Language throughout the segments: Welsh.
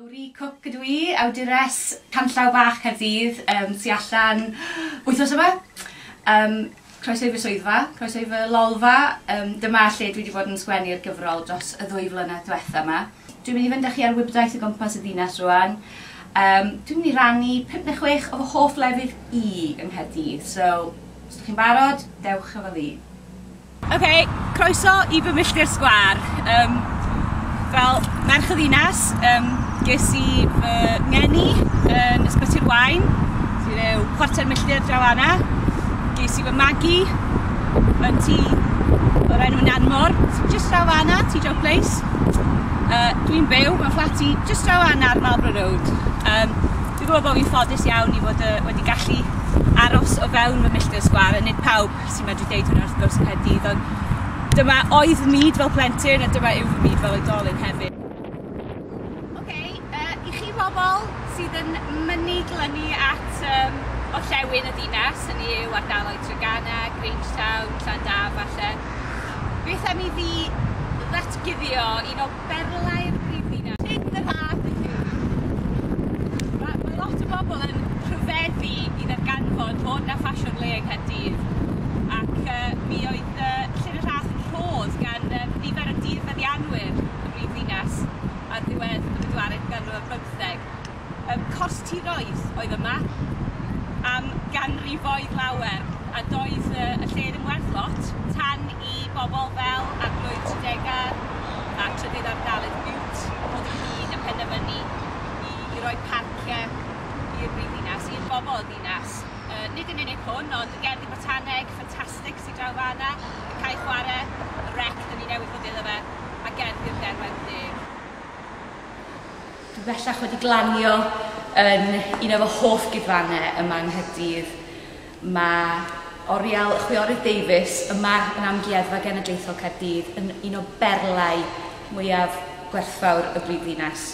Lowri Cooke ydw i, awdures Canllaw Bach Caerdydd yym tu allan wythnos yma. Yym croeso i fy swyddfa, croeso i fy lolfa, yym dyma lle dwi 'di bod yn sgwennu'r gyfrol dros y ddwy flynedd dwetha 'ma. Dwi'n mynd i fynd â chi ar wibdaith o gwmpas y ddinas rŵan. Yym dwi'n mynd i rannu pump ne' chwech o fy hoff lefydd i yng Nghaerdydd, so os 'dych chi'n barod, dewch efo fi. Ok, croeso i fy milltir sgwâr. Yym, wel, merch y ddinas, um, ges i fy ngeni yn Ysbyty'r Wain, sy'n rhyw chwarter milltir draw anna. Ges i fy magu yn ti o'r enw Nanmor, just draw anna, ti Joe Place. Uh, Dwi'n byw mewn fflati just draw anna ar Marlborough Road. Um, dwi'n gwybod bod fi'n ffodus iawn i fod uh, wedi gallu aros o fewn fy milltir sgwar, a nid pawb sy'n medru deud hwnna wrth gwrs Caerdydd, ond dyma oedd fy myd fel plentyn a dyma yw fy myd fel oedolyn hefyd. Oce, okay, uh, i chi bobl sydd yn mynnu glynu at um, orllewin y ddinas, hynny yw ardaloedd Treganna, Grangetown, Llandaf falle, beth am i fi ddatguddio un o berlau'r brifddinas. Sut yr ath i chi? Mae ma lot o bobl yn rhyfeddu i ddarganfod bod 'na ffasiwn le yng Nghaerdydd ac uh, mi oedd uh, Llyn y Rhath yn rhodd gan uh, nifer o dirfeddianwyr y brifddinas ar ddiwedd y bedwaredd ganrif ar bymtheg. Yym cors tiroedd oedd yma am ganrifoedd lawer a doedd yy y lle ddim werth lot tan i bobol fel Arglwydd Tredegar a Trydydd Ardaledd Bute ddod ynghyd a phenderfynu i i roi parcie i'r brifddinas, i'r bobol y ddinas. Yy nid yn unig hwn ond y gerddi botaneg ffantastig sy draw fana, y cae chware, y rec 'dyn ni newydd fod iddo fe a gerddi'r Derwen Deg. Dwi bellach wedi glanio yn un o fy hoff gigfannau yma yng Nghaerdydd. Mae oriel chwiorydd Davies yma yn Amgueddfa Genedlaethol Caerdydd yn un o berlau mwyaf gwerthfawr y brifddinas.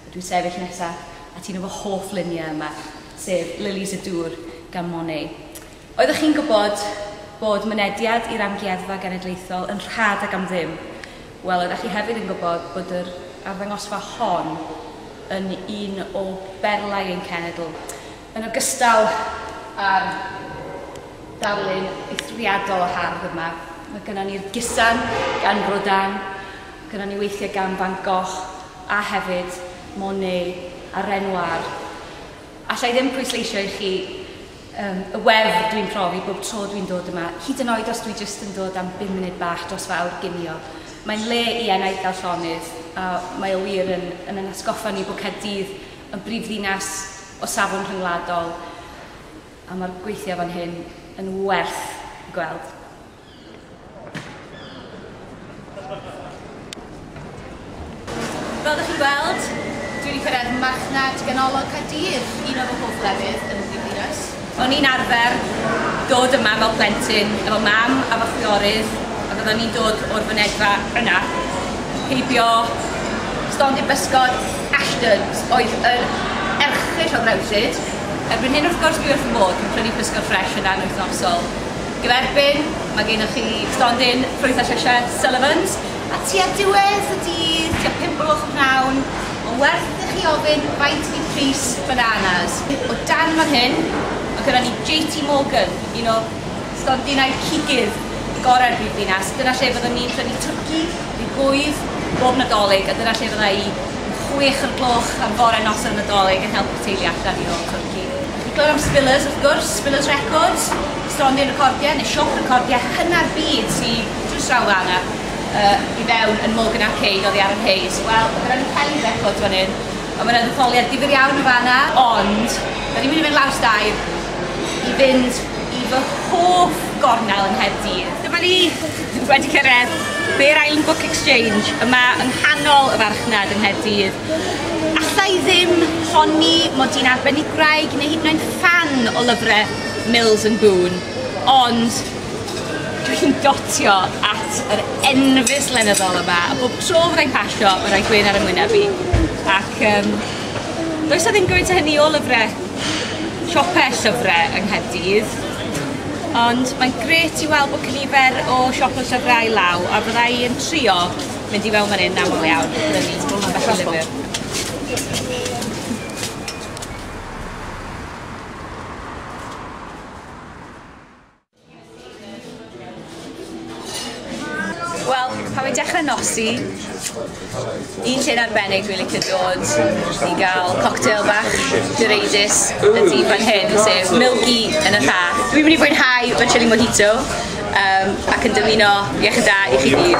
A dwi'n sefyll nesaf at un o fy hoff luniau yma, sef Lilies y Dŵr gan Monet. Oeddech chi'n gwybod bod mynediad i'r Amgueddfa Genedlaethol yn rhad ac am ddim? Wel, oeddech chi hefyd yn gwybod bod yr arddangosfa hon yn un o berlau ein cenedl, yn ogystal â'r darlun eithriadol o hardd yma. Mae gynnon ni'r Gusan gan Rodin, gynnon ni weithiau gan Van Gogh, a hefyd Monet a Renoir. Alla i ddim pwysleisio i chi um, y wefr dwi'n profi bob tro dwi'n dod yma, hyd yn oed os dwi jyst yn dod am 5 munud bach dros fawr ginio. Mae'n le i enaid a llonydd, a mae o wir yn, yn yn atgoffa ni bod Caerdydd yn brifddinas o safon rhyngwladol, a mae'r gweithiau fan hyn yn werth gweld. Fel ydych chi'n gweld, dwi wedi cyrraedd marchnad ganolog Caerdydd, un o fy hoff lefydd yn y Brifddinas. O'n i'n arfer dod yma fel plentyn efo mam a fy chwiorydd ac oedden ni'n dod o'r fynedfa yna heibio. Stondin bysgod Ashton's oedd yr erchyll o ddrewllyd. Erbyn hyn wrth gwrs dwi wrth fy modd, dwi'n prynu pysgod ffresh yna yn wythnosol. Yn erbyn, mae gennych chi stondin ffrwyth a llysiau Sullivans, a tua diwedd y dydd, tua pump o gloch y pnawn, mae'n werth i chi ofyn faint ydi pris bananas. O dan fan hyn, mae gyda ni JT Morgan, un o stondinau cigydd gorau'r brifddinas. Dyna lle fyddwn ni'n prynu twrci, neu gwydd, bob Nadolig, a dyna lle fydda i yn chwech o'r gloch am fore noson Nadolig yn helpu'r teulu allan i rôl twrci. Digon am Spillers, wrth gwrs, Spillers Records. Stondin recordiau neu siop recordiau hynna'r byd sy drws draw fan'na yy i fewn yn Morgan Arcade oddi ar yr Hayes. Wel, ma' 'na ryw Kelly's Records fan 'yn, a ma' 'na ddetholiad difyr iawn o fan'na. Ond, 'dan ni'n mynd i fynd lawr stair i fynd i fy hoff gornel yng Nghaerdydd. Dyma ni, wedi cyrraedd Bear Island Book Exchange, yma yng nghanol y farchnad yng Nghaerdydd. Alla i ddim honni mod i'n arbenigwraig neu hyd yn oed ffan o lyfre Mills and Boon, ond dwi'n dotio at yr enfys lenyddol yma, a bob tro fyddai'n pasio, mae'n rhoi gwyn ar y mwyneb i. Ac um, does na ddim gymaint o hynny o lyfrau, siopau llyfrau yng Nghaerdydd, ond mae'n gret i weld bod cynifer o siopau llyfrau i law, a byddai yn trio mynd i fewn fan hyn aml iawn, brynu ambell i lyfr. Wel, pan fi'n dechrau nosi, un lle'n arbennig dwi'n licio dod i gael cocktail bach direidus y dydd fan hyn, sef Milky yn y Lla. Dwi'n mynd i fwynhau fy chili mojito um, ac yn dymuno iechyd da i chi gyd.